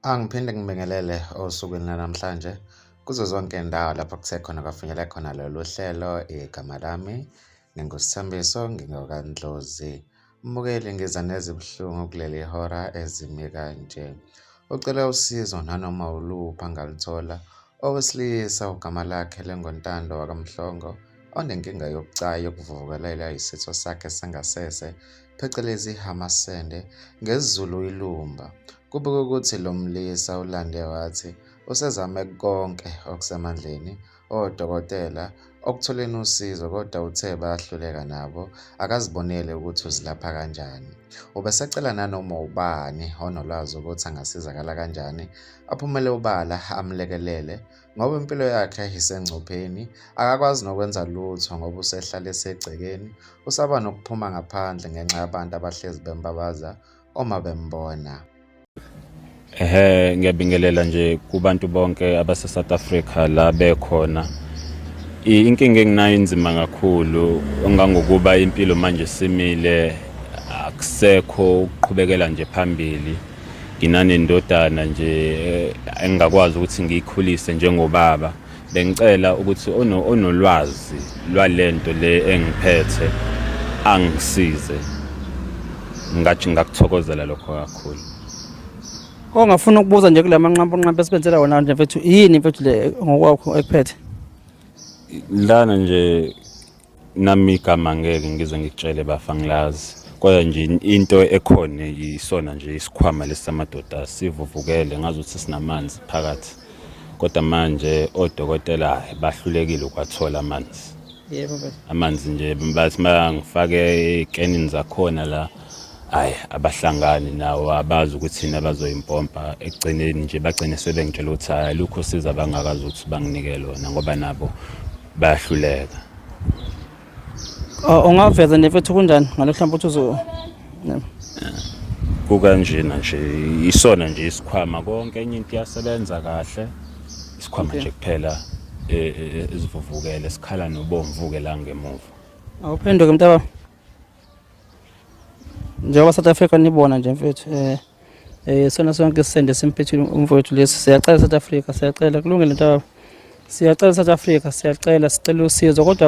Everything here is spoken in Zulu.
Angiphinde ngibingelele osukwini lanamhlanje kuzo zonke indawo lapho kusekhona kwafinyela khona lolu hlelo igama lami ngingusithembiso ngingokandlozi Mbukeli ngiza nezibuhlungu kuleli hora ezimi kanje. Ucela usizo nanoma ulupha angaluthola. Owesilisa ugama lakhe lengontando wakamhlongo onenkinga yokucaya yokuvuvukelela isitho sakhe sangasese phecelezi hamasende ngesiZulu ilumba. Kubikwa ukuthi lo mlisa ulande wathi usezame konke okusemandleni odokotela okutholeni usizo kodwa uthe bayahluleka nabo akazibonele ukuthi uzilapha kanjani. Ubesecela nanoma ubani onolwazi ukuthi angasizakala kanjani aphumele ubala amlekelele ngoba impilo yakhe isengcupheni akakwazi nokwenza lutho ngoba usehlale esegcekeni usaba nokuphuma ngaphandle ngenxa yabantu abahlezi bembabaza uma bembona. Ehe ngiyabingelela nje kubantu bonke abase South Africa la bekhona. Inkinga enginayo inzima kakhulu ongangokuba impilo manje simile akusekho ukuqhubekela nje phambili. Nginanendodana nje eh, engingakwazi ukuthi ngiyikhulise njengobaba. Bengicela ukuthi ono onolwazi lwalento le engiphethe angisize. Ngathi ngakuthokozela lokho kakhulu. Ongafuna oh, ukubuza nje kulamanqampo nqampo esibenzela wona nje mfethu yini mfethu le ngokwakho ekuphethe? Lana nje nami igama ngeke ngize ngikutshele bafa ngilazi kodwa nje into ekhona yisona nje isikhwama lesamadoda sivuvukele ngazi ukuthi sinamanzi phakathi kodwa manje odokotela bahlulekile ukwathola amanzi yebo amanzi nje bathi mangifake ikenini zakhona la hayi abahlangani nawo abazi ukuthi yini abazoyimpompa ekugcineni nje bagcine sebengitshela ukuthi hayi lukho siza abangakazi ukuthi banginike lona ngoba nabo bayahluleka oh, ungaveza nje mfethu kunjani ngalo mhlawumbe uthi uzo kukanjena nje isona nje isikhwama konke enye into iyasebenza kahle isikhwama nje kuphela e, e, e, ezivuvukele sikhala nobomvu-ke la ngemuva awuphenduke mntabami njengoba South Africa nibona nje mfethu eh eh sona sonke sisende simphethile umfowethu lesi siyacela South Africa siyacela kulungile ntababo siyacela South Africa siyacela sicela usizo kodwa